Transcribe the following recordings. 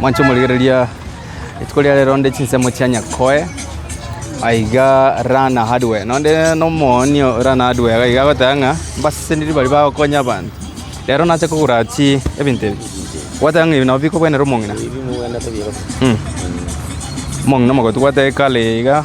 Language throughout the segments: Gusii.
Mwanche omorigereria, rituko ria rero nde chinsemo chia Nyakoe, aiga Rana Hardware. Nonde nomooni o Rana Hardware iga iga agoteba ng'a mbaseseniri baria bagokonya abanto. Rero nache kogora chi ebinto ebi. Gwateba ng'a ebi nabo bikobwenera omong'ina. Omong'ina omogoko togwate ekare iga.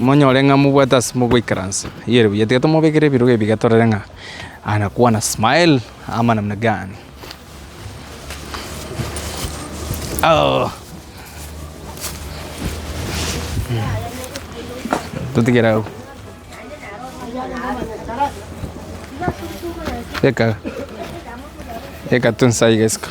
Monyore ng'a mobwate ase mogoikaransa iyere buya, tiga tomobekera ebirogo ebiga torore ng'a anakwana smile ama namna gani. Totigere agwo. Teka, teka tu nsa iga isiko.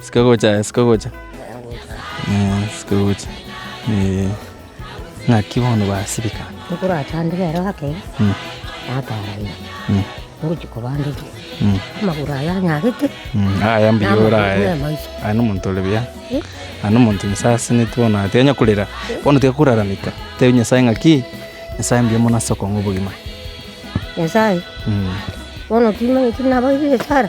Siko gocha eh, siko gocha, siko gocha eeh. Ng'aki bono basibeka? Tokorachandire ero ake natoranywa ngochia kobandete amagoro aya anyarete Aya mbuya ore namagoro aye, nemaiso. aye na omonto ore buya, aye na omonto Nyasae aseseneti bono aye tenya korera, bono tiga korarameka, tebi Nyasae ng'aki, Nyasae mbuya mono ase okong'a obogima. Nyasae, bono timanyeti nabaire esara.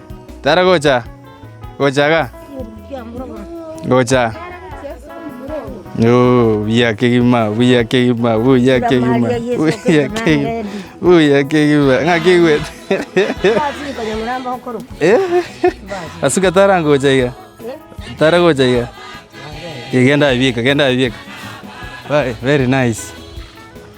Tara gocha, gocha iga, gocha. Yoo, buya kegima, buya kegima, buya kegima, Maria Yesu buya Kristo kegima, Nazareti. buya kegima. Ng'a kegwete. Eh, asuka tara ngocha iga, tara gocha iga. Eh, genda aye bieka, genda aye bieka. Very nice.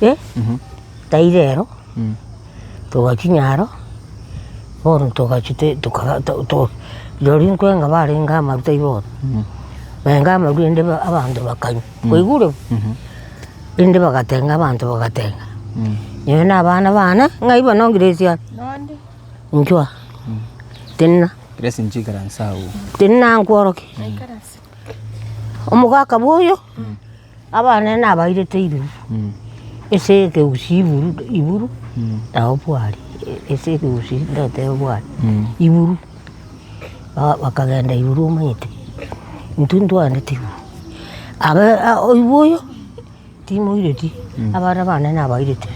eh taira ero togachinya aro bono togachia te tokaga to rirorio nkwenga barenge amaru taibo bono, barenge amaru rende abanto bakanywa, kwaigure? Rende bagatenga abanto bagatenga nyowe na abana bane ng'ai bo no grace aa inchuaa tenena tenena nkworoke omogaka bwoyo. Abana nabairete irwe ase ekegusii iburu iburu nabo bwari ase ekegusii ndoteba bwari iburu. Ba- bakagenda iburu omanyete intwe ntwaanete iburu. Abe a- oigwa oyo timoireti abana bane nabairete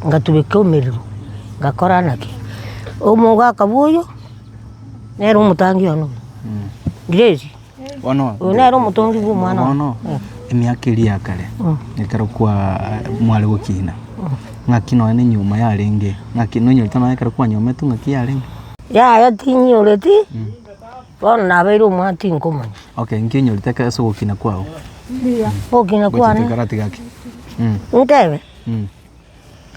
ngatubeka emerero ngakora ng'a ki, omogaka bwa oyo nere omotangi one oyo, grace. Oyo nere omotongi bw'omwana one. Bono emiaka eria ya kare, ekero kwaa mware gokina, ng'aki nonya na enyuoma yarenge, ng'aki nonyorete nonya ekero kwanyometwe ng'aki yarenge? Yaya tinyoreti, bono nabeire omwaa tinkomanya. Okay, eng'ki onyorete ekero ase ogokina kwao? Ogokina kwane? Gochia toigwere gati gaki. Intebe?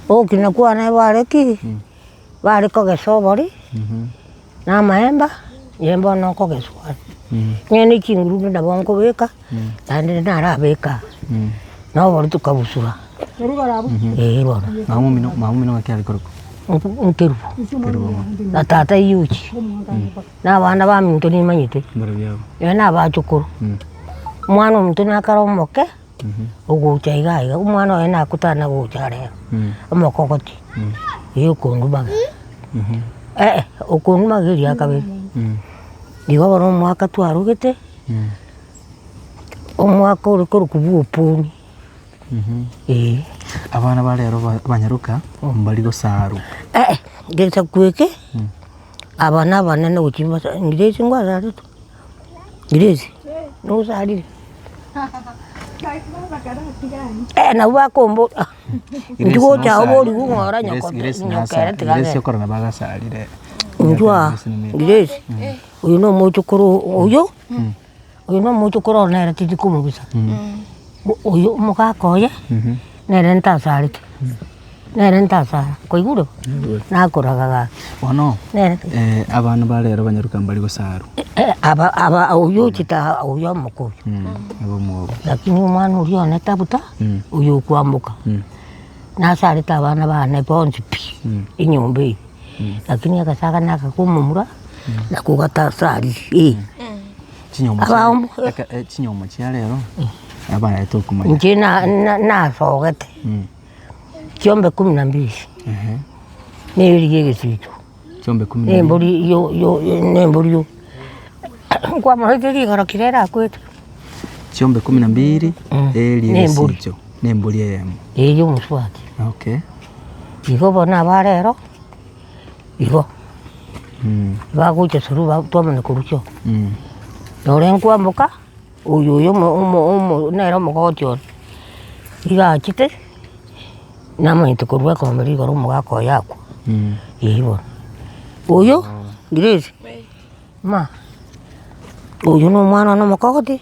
Ogokina kwane bare ki? bare kogesa obori na amaemba inche bono nkogesuani. Inye ne chinguru nabo nkobeka naende narabeka na obori tokabusura eh bono. Maumino gaki are korokwa? Nkerubo na tata eyio ochia na abana baminto nimanyete. Nabachukuru. Omwana ominto nakare omoke. ogocha iga iga omwana oye nakotare na gocha are iga omokogoti eyi okondubaga eh okondubaga eri ya kabere igo bono omwaka twarogete omwaka ore korokwa bwoponi eh. Abana ba rero banyaroka mbari gosarwa? Eh gesaku eke aba nabanene gochia mbasa ngire ase ngwasarete. Grace, nosarire? Eh nabo bakombo ah intwe gocha aho boriku ng'ora nyoko nyokere tiga agende. Inchuaa, Grace, oyo na omochokoro oyio, oyo na omochokoro one nere tiri komogusa, bo oyo omogaka oye. Nere ntasareti, nere ntasara, koigure bo? Nakoraga gaki. Bono Nere eh, abana ba rero banyaruka mbari gosarwa. Eh, aba, aba, oyio ochita, oyio omoka oyio. Mm, nigo omwogo. Lakini omwana oria one tabuta, Mm. oyio okoamboka. Mm. Nasarete abana bane bonsi pi, Mm. enyomba eye. Lakini agasaga nagakomomura, nako gatasariri, eh. Chinyomo chia- Abaombu. reka- eh, chinyomo chia rero abarete okomanya Inche na- na- nasogete Mm. chiombe kumi na mbili Ehe. na eeri ya egesiito Chiombe kumi na na ibere. embori yo- yo- yo- na embori yo nkwamoraite rigoro kire erakwete chiombe kumi na mbili Mm. eeri Na embori. egesicho na embori eyemo eyio omosubati okay igo bono aba rero igo bagocha through ba twamanya korusia oo. Nore nkwamboka, oyo oyo omo omo omo nere omogoti one, iga achete namanyete korwa ekombe riu igoro omogaka oyo akwa, eeh bono. Oyo Grace, ma oyo nomwana one omokogoti.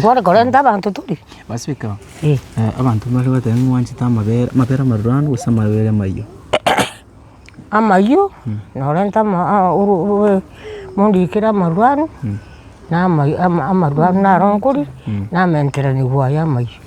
Kware korenta abanto tari? Basibeka Eh. eh, abanto mbare goteba ng'a mwanchete amabere amabere amaruranu gose amabere amayio. Amayio, norenta ama- a- oru- orue mondikere amaruranu, na ama- ama- amaruranu naro nkoria, na amaengeranigwa aye amayio.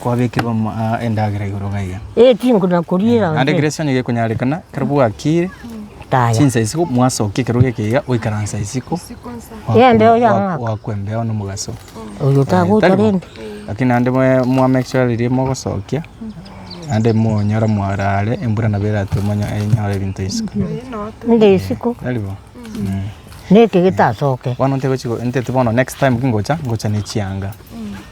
Kwabekerwa endagera igoro gaiga. Eh, tinkona kuriera. Ande Grace onye gekonyarekana, kero bwakire, Taya. chinsa isiko mwasokia ekero geke iga oikaransa isiko. Yeah, mbeo ya mwaka. Wakwa embeo nomogaso. Oyo tago Tari bo? tarende. Lakini ande mwe- mwa make sure riria mogosokia, ande monyora mwarare, embura nabo eratwe monye enyore ebinto isiko. Nde isiko. Tari bo? Mm. Neke getasoke. Bono ntegochi go- ntete bono next time ki ngocha, ngocha ne chianga.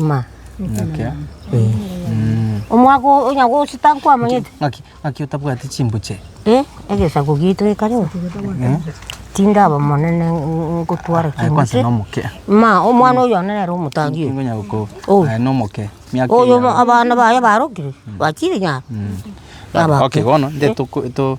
Ng'a. Ng'ake. Eh. Omwaka oo onya gochita nkwamanyete. Ng'aki, ng'aki otabwati chimbuche? Eh, egesaku gitu eka reo. Eh. Tindaba monene ngotwara Aye kwanse chimbuche. nomoke. Ma, omwana oyo one nere omotangi oyo. Ngonya goko. Oh. Aye nomoke. Miaka Oyo eyao. abana baye barokire, bachire nyaro. Baba. Okay, bono, nde toko, to.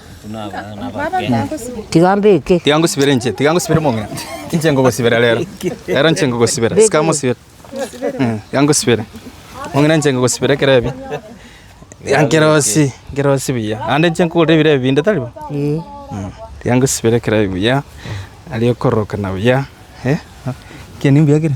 Tiga mbeke. Tiga ngosibere inche, tiga ngosibere mong'ina. Inche ngogosibera rero. Rero inche ngogosibera. Sika mosibere. Mm, Tiga ngosibere. Mong'ina inche ngogosibera ekero ebi. Tiga nkerosie, nkerosie buya. Naende inche nkogorera ebirebe binde tari bo? Eh. Mm, Tiga ngosibere ekero ebi buya. Aria okorokana buya. Eh, ekiya nigo mbuya kere.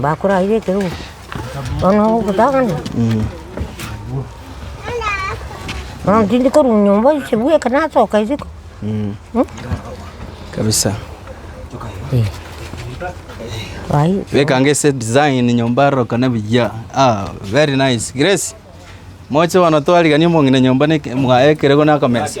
bakorarire ekerogo bono ogotagana bono tindi korwa nyomba inche bweka nasoka isiko. Kabisa. Ayii. Bekanga ase design nyomba arorokane buya. Ah, very nice. Grace, moche bono twariganie omong'ina nyomba na eke- mwaye ekerego na akamesa.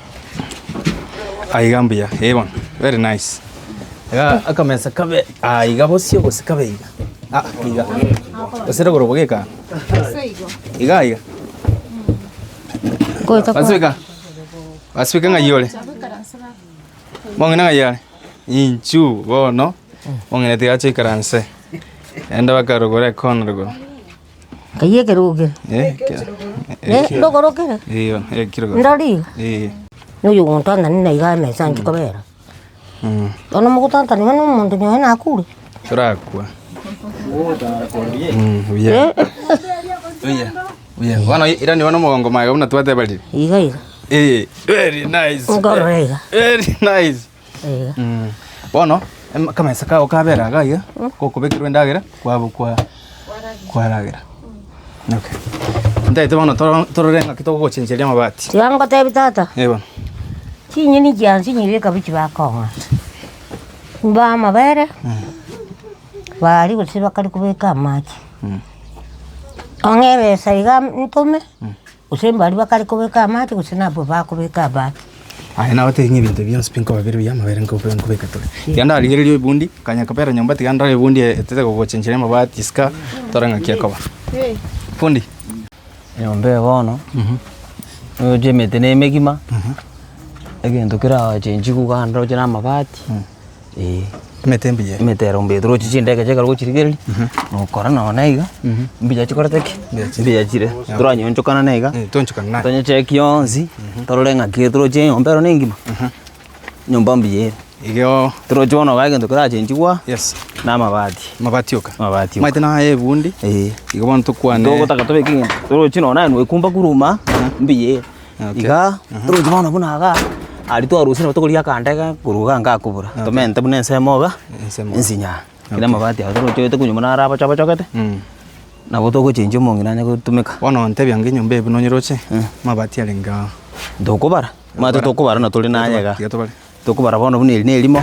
Aiga mbuya, eh bono, very nice. Igaa akamesa kabe aiga bosio gose kabe iga, ah iga, gose rogoro bogeka aa, Gose igo. igaa iga. Ngoeta Gose iga, gose iga ng'ai ore, mong'ina ng'ai are, inchuu bono, mong'ina tiga ache aikaranse, naende bakarogora ekoona rogoro. Keyio ekerogero. Eh, ekero. Eh, ndogoro kere. Eyo, ekero. Ndori. Eh. Noyo gontantani na iga emesa nchi kobera. Mm. Ono mogotantani bana omonto nyoe nakure. Torakwa. Mm, buya. Eh, Buya. Buya. Bono ira nigo nomogongo maye buna twatebarire. iga iga. Eh, very nice. Ngoro iga. Very nice. Bono akamesa kao kabera iga aiga, gokobekerwa endagera kwabo kwa kwaragera. Okay. Ntaete bono toro- torore ng'aki togochenchereria amabati. Tiga ngotebi tata, Eh, bono. chinyeni chiansinyire ekabichi bakong'a, mbaa amabere, baaria gose bakare kobeka amache. Ong'e ebesa iga ntome, Gose mbaria bakare kobeka amache, gose nabwo bakobeka amache. Aye nabatebia ng'a ebinto bionsi pi nkobabera ebiya amabere nkobe- nkobeka tore. Tiga ndarigereria oibundi, nkanya nkobera nyomba, tiga ndore ebundi e- etete gogochenchera amabati isiko, tore ng'aki ekoba. Fundi. Nyomba eye bono, oroche emete na emegima, egento keragochechigwe iga roche na amabati. Ee. Emete mbuya. Emete ero mbuya torochi chindagera chikare gochirigereria, nokora nonye na iga, mbuya chikorete ki? Mbuya chire. Toranyonchokana na iga. Toonchokana naye. Tonyechekie yonsi, torore ng'a ki torochi enyomba ero nengima? Enyomba mbuya ere. Igeo. Torochi bono iga egento kerachenchigwa. Yes. Na amabati. Amabati oka. Amabati oka. Omanyete na aya ebundi. Ee. Igo bono tokwane. Togotaka tobeke egento. Torochi nonye naye noekumba korwa omba, mbuya ere. Okay. Iga oroche bono buna iga, aria twarosire nabo tokoria akande iga korwa iga ngakobora, tomente buna ensemo iga, Ensemo. ensinyaa. Kera amabati aye toroche gete konywa buna are abochabochogete, nabo togochenchia omong'ina anye gotumeka. Bono ontebia ng'a enyomba eye buna onyeroche, mabati arenge aa. Tokobara, mabati tokobara buna tore naye iga. Tiga tobare. Tokobara bono buna eri na erimo,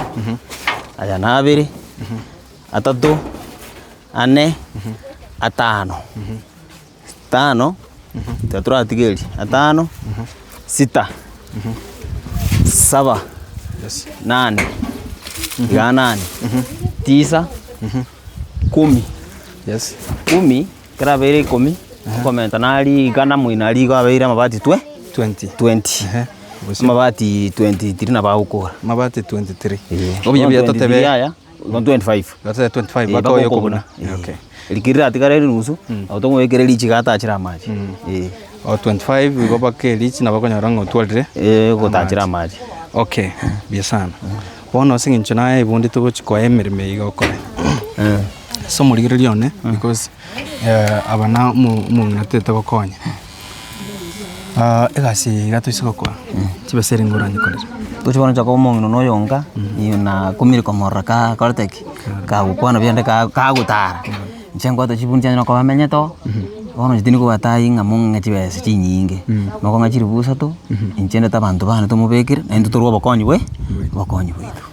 aya na abere, atato, ane, atano. Tano, tiga toratigerie, atano, sita, saba, nane, igaa nane, tisa, ikomi, ikomi, ekero abeire ikomi, okomenta na rigana moino aria igo abeire amabati twe Twenty. twenty. Ehe. Amabati twenty tiri nabo agokora. Mabati twenty three. Eeh. Obuya buya Bono totebe- 23 aya. No 25. That's the 25 Eh, baka oyokobuna. bakokobuna. Eh, okay. Rikiri ratigara eri nusu, nabo tomwekere richiga atachire amache. Eh, O 25 igo bake richi na bakonyora ng'a otwarire. eh, gotachire amache. Okay, biya sana. Bono ase eng'encho naye ibundi togochi koa emeremo eye igokora. Ase omorigereria one because eh, aba na omo- omong'ina toete gokonya. egasi eye iga toise gokora, chibesa ere nigo oranyare korera. Tochia bono gochia koba omong'ina na oyonga, iyoo na akumire komorora ka akorete ki, kagokwana buya naende ka kagotara. Inche ngoeta chibunu chiane noko bamenyete oo, bono inche tindi kogoeta aye ng'a mong'e chibesa chinyinge, noko ng'a chilifu isato, inche ndete abanto bane tomobekire, naende totore obokonyi bwe obokonyi bwaito.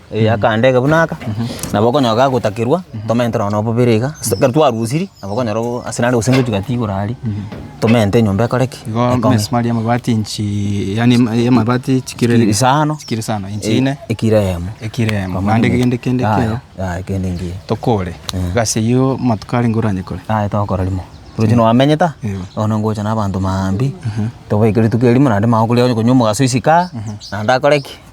eh, akaandege buna aka, nabo okonyora gagotakerwa, tomente nonya na obobere iga, ase ekero twarusirie, nabo okonyora o- ase nare gose ngochia gotiga igoro aria, tomente enyomba ekore ki? Igo Ekong'e. emesumari y'amabati inchi yaani ema- y'amabati chikiro Chikiro isano. chikiro isano inchi Eh, ine ekiro eyemo. ekiro eyemo Pamoja naende na- kegende kende Aye, keo aye, kende ngiya. tokore gasi eyio amatuko arenge oranyekore Aye togokora rimo. Roche nwamenye ta, Eeh. bono ngocha na abanto maambia, tobaeke rituko erimo naende mambia okoria onye konywa omogaso isiko aa, naende akore ki?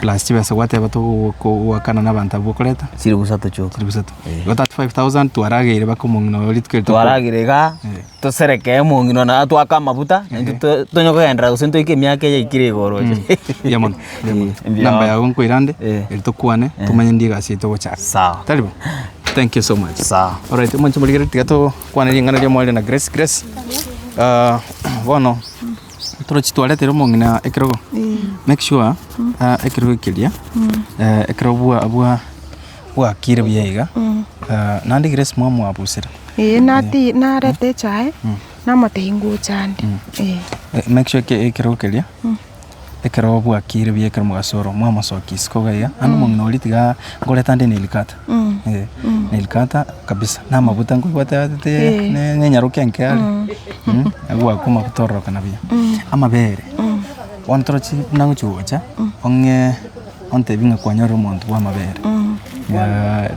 Plus chibesa gwateba togokogwakana na abanto abwo okoreta. Chiri busato chioka. Chiri busato. Eh. Go 35000 twarageire baka omong'ina oyo rituko rito. Twaragire iga tosereke omong'ina na twaka amabuta naintwe to- tonye kogendera gose ntoike emiaka eye ikire igoro. Mbuya mono. Mbuya mono. Eh, mbuya. Namba yago nkoira ande Eh. eri tokwane tomanye ndi egasi yaito gochaka. Sawa. Tari bo? Thank you so much. Sawa. Alright, omonche morigere tiga tokwane ring'ana ria Omorere na Grace. Grace. Ah, bono Toroche twaretire omong'ina ekerogo make sure ah, ekerogo ekeria eh, ekerogo bwa bwa bwakire buya iga Ah, naende Grace mwamwabusire Ee, nati narete echae namotehi nguchande. Ee. Eh, make sure ke- ekerogo keria ekerogo bwakire buya ekero mogasoro mwamosokia isiko iga iga ande omong'ina oria tiga nkoreta ande neilikata Nilkata kabisa namaguta nkoigwa ateagetete nenyarokia enke are agwake amaguta ororokana buya. Amabere bono torochi buna ogochia gocha ong'ee ontebie ng'a kwanyorire omonto bwa amabere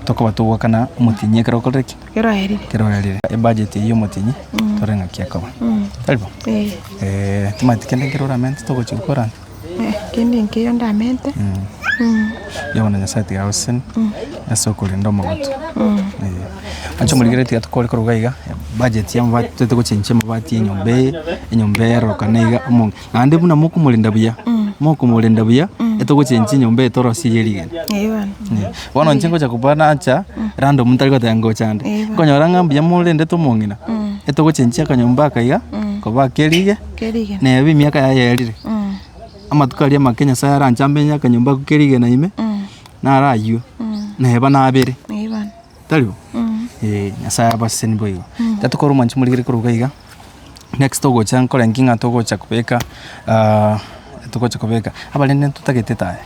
tokoba togokana omotienyi ekero okorire ki? Ekero orarire. Ebudget eywo ya omotienyi tore ng'aki ekoba. Tari bo? Timanyeti kende nkere oramente togochia gokora. Kende nkeiyo ndamente. Yebo na Nyasae tiga agoseseni ase okorenda omogote. Ache omorikere tiga tokore koruga iga, bajeti ya amabati toete gochenchia amabati ya enyomba eye, enyomba eye erorokane iga, naende buna mokomorenda buya, mokomorenda buya, etogochenchia enyomba eye torosie eye rigena. Bono inche ngocha kobua nacha, rando omonto tari goteba ngocha ande. Nkonyora ng'a mbuya morendete omong'ina, etogochenchia akanyomba aka iga, koba ake erige. na eyio emiaka yaye erire. Amatuko aria make Nyasaye aranchambe inye akanyomba kerigena ime, naro ayio, na eba nabere, tari bo? Eeh, Nyasaye abaseseni boigo. Iga tokore omwancho morikere koruga iga, next togocha nkore ki ng'a togocha kobeka togocha kobeka, abarenge ntotagete taya.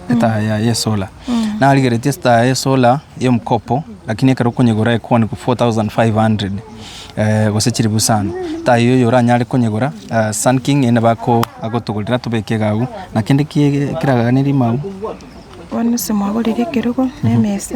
Etaaya yaye y'esola. Narigeretie estaaya y'esola y'omokopo, lakini ekero okonyegora ekwane korwa 4500 eh, gose chilifu isano. Etaaya eyio oyo oranyare konyegora eh, Sun King ende bako agotogorera tobeke iga agwo, na kende ki- kiraganerie mambia. Bono ase mwagorire ekerogo na emesa.